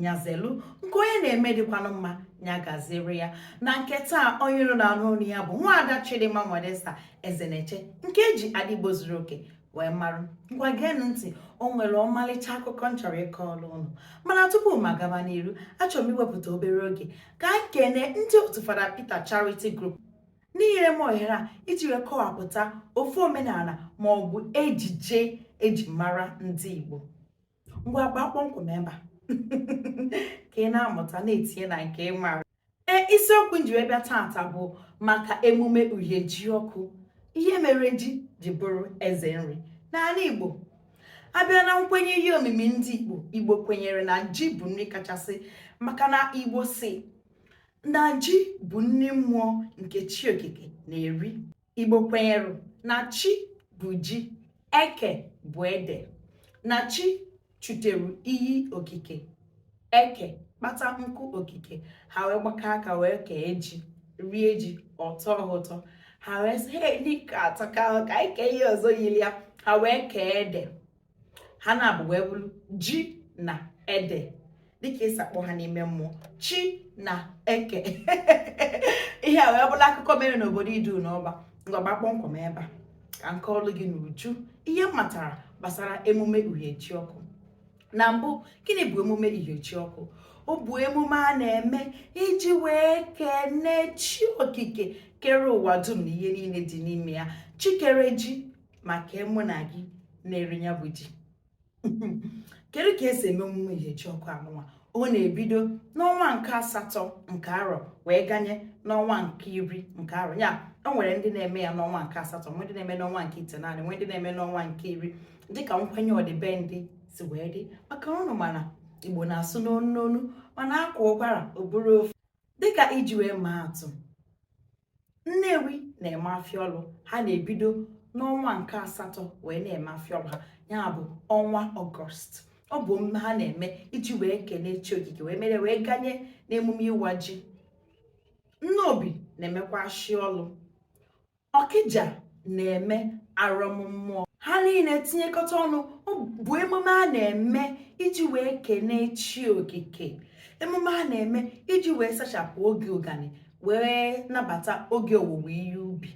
nya zelu nke onye na-eme dịkwanụ mma nya gaziri ya na nke taa onye ị nọ na-anụ onu ya bụ nwaada Chidimma Modesta Ezeneche nke eji Adaigbo zuru oke wee mara ngwa geenụ ntị o nwere ọmalịcha akụkọ m chọrọ ịkọọrụ unu mana tupu m agaba n'iru achọrọ m iwepụta obere oge ka anyị kene ndị otu Fada Peter Charity Group n'inyere m ohere a iji wee kọwapụta ofu omenala ma ọ bụ ejije eji mara ndị Igbo ngwa gbaa kpọmkwem ebe a ka ị na-amụta na-etinye na nke ị mara isiokwu m ji wee bịa taata bụ maka emume uhie ji ọkụ ihe mere ji ji bụrụ eze nri n'ala Igbo a bịa na nkwenye ihe omimi ndị Igbo Igbo kwenyere na ji bụ nri kachasị maka na Igbo sị na ji bụ nri mmụọ nke chi okike na-eri igbo kwenyere na chi bụ ji eke bụ ede na chi chutere iyi okike eke kpata nkụ okike ha wee gbakọ aka wee kee ji rie ji ọ tọọ ha ụtọ ha wee sị he nke a atọka ka anyị kee ihe ọzọ yiri ya ha wee kee ede ha naabọ wee bụrụ ji na ede dịka esi akpọ ha n'ime mmụọ chi na eke ihe a wee bụrụ akụkọ mere n'obodo idu n'ọba ngwa gbaa kpọmkwem ebe a ka m kọọrụ gị n'uju ihe m matara gbasara emume uhie ji ọkụ na mbụ gịnị bụ emume uhie ji ọkụ ọ bụ emume a na-eme iji wee kene chi okike kere ụwa dum na ihe niile dị n'ime ya chi kere ji ma kee mụ na gị na-eri ya bụ ji kedu ka esi eme emume uhie ji ọkụ anụnwa ọ na-ebido n'ọnwa nke asatọ nke arọ wee ganye n'ọnwa nke iri nke arọ ya o nwere ndị na-eme ya n'ọnwa nke asatọ nwee ndị na-eme n'ọnwa nke itenaanị nwee ndị na-eme n'ọnwa nke iri dịka nkwenye ọdịbendị si wee dị maka unu ma na igbo na-asụ n'onu n'onu mana a kwaa ụkwara ọ bụrụ ofu dịka iji wee maa atụ nnewi na-eme afịa ọlụ ha na-ebido n'ọnwa nke asatọ wee na-eme afịa ọlụ ha ya bụ ọnwa ọgọst ọ bụ emume ha na-eme iji wee kene chi okike wee mere wee ganye n'emume ịwa ji nnobi na-emekwa ashịa ọlụ ọkịja na-eme arọmmụọ ha niile tinyekọta ọnụ bụ emume a na-eme iji wee kene chi okike emume a na-eme iji wee sachapụ oge ụgani wee nabata oge owuwe ihe ubi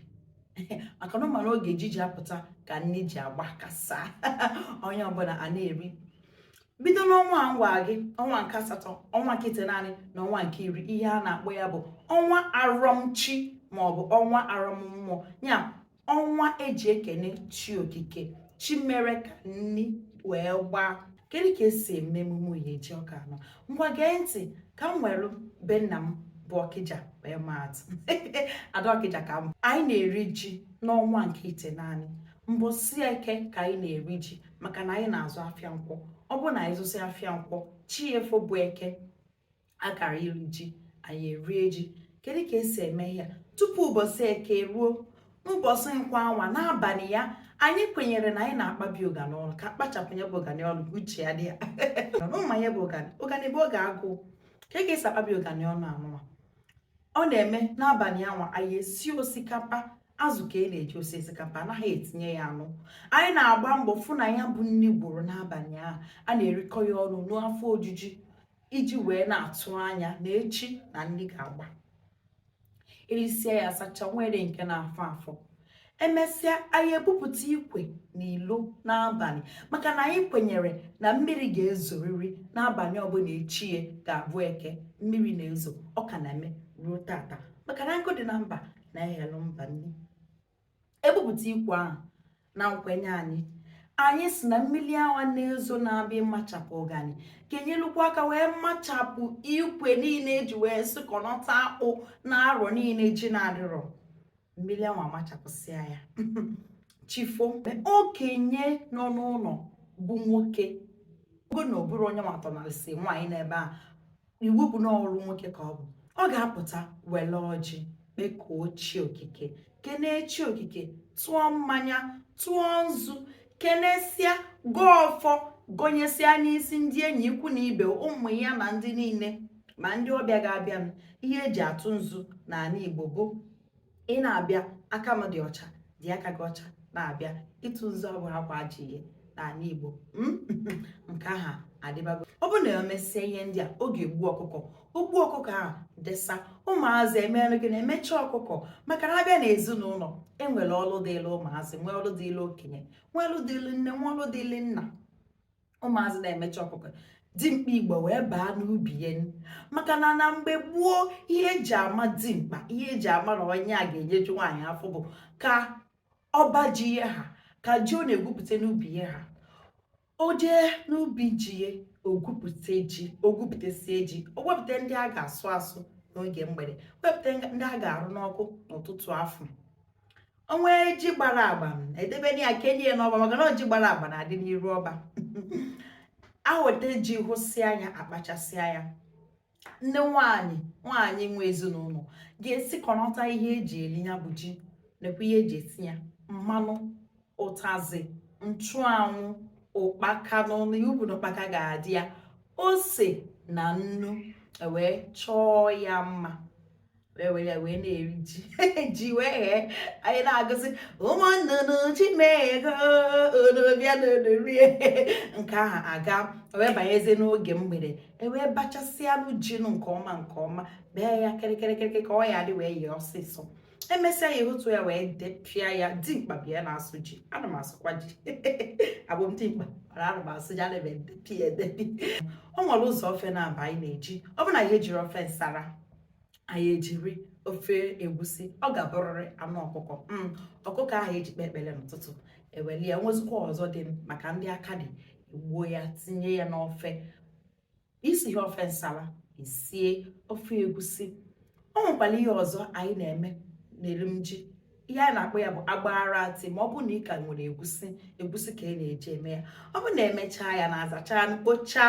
maka na ị mara oge ji ji apụta ka nri ji agbakasa onye ọbụla a na-eri bido n'ọnwa m gwa gị ọnwa nke asatọ ọnwa nke itenaanị na ọnwa nke iri ihe a na-akpọ ya bụ ọnwa arọmchi maọbụ ọnwa arọmmụọ ya ọnwa eji ekene chi okike chi mere ka nni wee gbaa kedu ka esi eme emume iri ji ọka anọ ngwa gee ntị ka m were be nna m bụ ọkịja wee maa atụ ada ọkịja ka m anyị na-eri ji n'ọnwa nke itenaanị mbọsị eke ka anyị na-eri ji maka na anyị na-azụ afịa nkwọ ọ bụ na anyị zụsị afịa nkwọ chi efo bụ eke akara iri ji anyị erie ji kedu ka esi eme ya tupu ụbọchị eke ruo ụbọchị nkwọ anwa n'abalị ya anyị kwenyere na anyị na-akpabi ụganị ọnụ ka akpachapụ ya bụ ụganị ọnụ ka uche ya dị ya ụma ya bụ ụganị ụganị bụ oge agụụ ka e ga-esi akpabi ụganị ọnụ anụwa ọ na-eme n'abalị anwa anyị esi osikapa azụ ka e na-eji esi osikapa anaghị etinye ya anụ anyị na-agba mbọ fụ na ya bụ nri gwụrụ n'abalị ahụ a na-erikọ ya ọnụ n'afọ ojuju iji wee na-atụ anya na echi na nri ga-agba erisie ya asacha nwere nke na-afọ afọ emesịa anyị ebupụta ikwe na ilo n'abalị maka na anyị kwenyere na mmiri ga-ezoriri n'abalị ọbụla echi ya ga-abụ eke mmiri na-ezo ọ ka na-eme ruo tata maka na nkụ dị na mba na-eghelu mba nri ebupụta ikwe ahụ na nkwenye anyị anyị si na mmiri anwa na-ezo na-abịa ịmachapụ ụganị ka enyelukwa aka wee machapụ ikwe niile eji wee sụkọnọta akpụ na arọ niile ji na-adịrọ mmiri anwa machapụsịa ya chi fo okenye nọ n'ụlọ bụ nwoke ogo na ọ bụrụ onye nwa tọnalịsị nwaanyị n'ebe a iwu bụ na ọrụ nwoke ka ọ bụ ọ ga-apụta wele ọjị kpekuo chi okike kenee chi okike tụọ mmanya tụọ nzu kenesịa gọọ ọfọ gonyesịa n'isi ndị enyi ikwu na ibe ụmụ ya na ndị niile ma ndị ọbịa ga-abịanụ ihe eji atụ nzu n'ala Igbo bụ ị na-abịa aka m dị ọcha dị aka gị ọcha na-abịa ịtụ nzu abụhọkwa ajọ ihe n'ala Igbo hmm? nke ahụ adịbago ọ bụ na emesịa ihe ndị a ọ ga-egbu ọkụkọ o gbuo ọkụkọ ahụ desa ụmụazị emerụ gị na-emecha ọkụkọ maka na abịa na ezinụlọ enwere ọlụ dịịlụ ụmụazị nwee ọlụ dịịlụ okenye nwee ọlụ dịịlụ nne nwee ọlụ dịịlụ nna ụmụazị na-emecha ọkụkọ dimkpa igbo wee baa n'ubi ya maka na na mgbe gboo ihe eji ama dimkpa ihe eji ama na onye a ga-enyeju nwaanyị afọ bụ ka ọba ji ya ha ka ji ọ na-egwupụta n'ubi ya ha o jee n'ubi ji ya o gwupụta ji o gwupụtasie ji o wepụta ndị a ga-asụ asụ n'oge mgbede wepụta ndị a ga-arụ n'ọkụ n'ụtụtụ afụ o nwee ji gbara agba edebe ya kenye ya n'ọba maka na ji gbara agba na-adị n'iru ọba aweta ji hụsịa anya akpachasịa ya nne nwanyị nwanyị nwe ezinụlọ ga-esikọnata ihe eji eli ya bụ ji nakwa ihe eji esi ya mmanụ ụtazị nchụanwụ ụkpaka n'ọnụ ya ọ bụ na ụkpaka ga-adị ya ose na nnu ewee chọọ ya mma wee were ya wee na-eri ji ji wee ghee anyị na-agụzi ụmụ nnụnụ ji m eghego ụnụ bịa na ụnụ rie nke ahụ aga wee banyezi n'oge mgbede ewee bachasịanụ jinụ nke ọma nke ọma bee ya kịrịkịrịkịrị ka ọ ya dị wee yee ọsịsọ emesịa ya ehotu ya wee depịa ya dimkpa bịa na-asụ ji ana m asụkwa ji abụ m dimkpa mana ana m asụ ji ana m edepi edepi o nwere ụzọ ofe naabọ anyị na-eji ọ bụ na ihe ejiri ofe nsara anyị ejiri ofe egwusi ọ ga-abụrịrị anụ ọkụkọ mm, ọkụkọ ahụ anyị ji kpee ekpere n'ụtụtụ eweli ya o nwezikwa ọzọ dị maka ndị aka dị egbuo ya tinye ya n'ofe isighị ofe nsara isie ofe egwusi ọ nwekwara ihe ọzọ anyị na-eme n'erim ji ihe a na-akpọ ya bụ agbaratị ma ọ bụ na ị ka nwere egwusi egwusi ka a na-eji eme ya ọ bụ na emechaa ya na azachaa mkpocha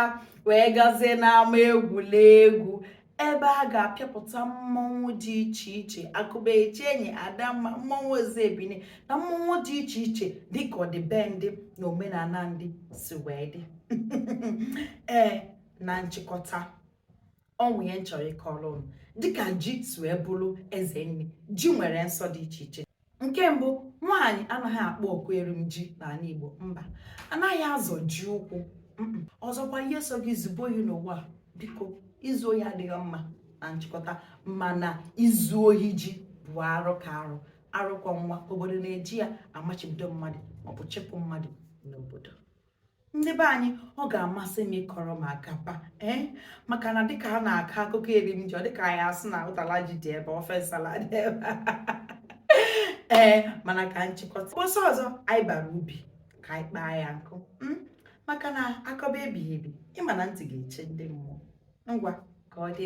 wee gazie n'ama egwuregwu ebe a ga-apịapụta mmọnwụ dị iche iche akụba eche enyi adamma mmọnwụ eze ebine na mmọnwụ dị iche iche dịka ọdịbendị na omenala ndị si wee dị ee na nchịkọta o nwere ihe m chọrọ ịkọrọ ụnụ dịka ji si wee bụrụ eze nri ji nwere nsọ dị iche iche nke mbụ nwaanyị anaghị akpọ oku erim ji n'ala Igbo mba anaghị azọ ji ụkwụ ọzọkwa ihe sọ gị zube ohi n'ụwa biko izu ohi adịghị mma na nchịkọta mana izu ohi ji bụ arụ ka arụ arụ kwọ nwa obodo na-eji ya amachibido mmadụ maọbụ chịpụ mmadụ n'obodo ndị be anyị ọ ga-amasị m ịkọrọ m akapa ee eh? maka na dịka a na-akọ akụkọ erim ji ọ dịka a ya-asị na ụtala ji dị ebe ofe nsala dị ebe a ee eh, mana ka m chịkọta mbọsị ọzọ anyị bara ubi ka anyị kpaa ya nkụ hmm? maka na akọba ebighị ebi ị ma na ntị ga-echi ndị mmụọ ngwa ka ọ dị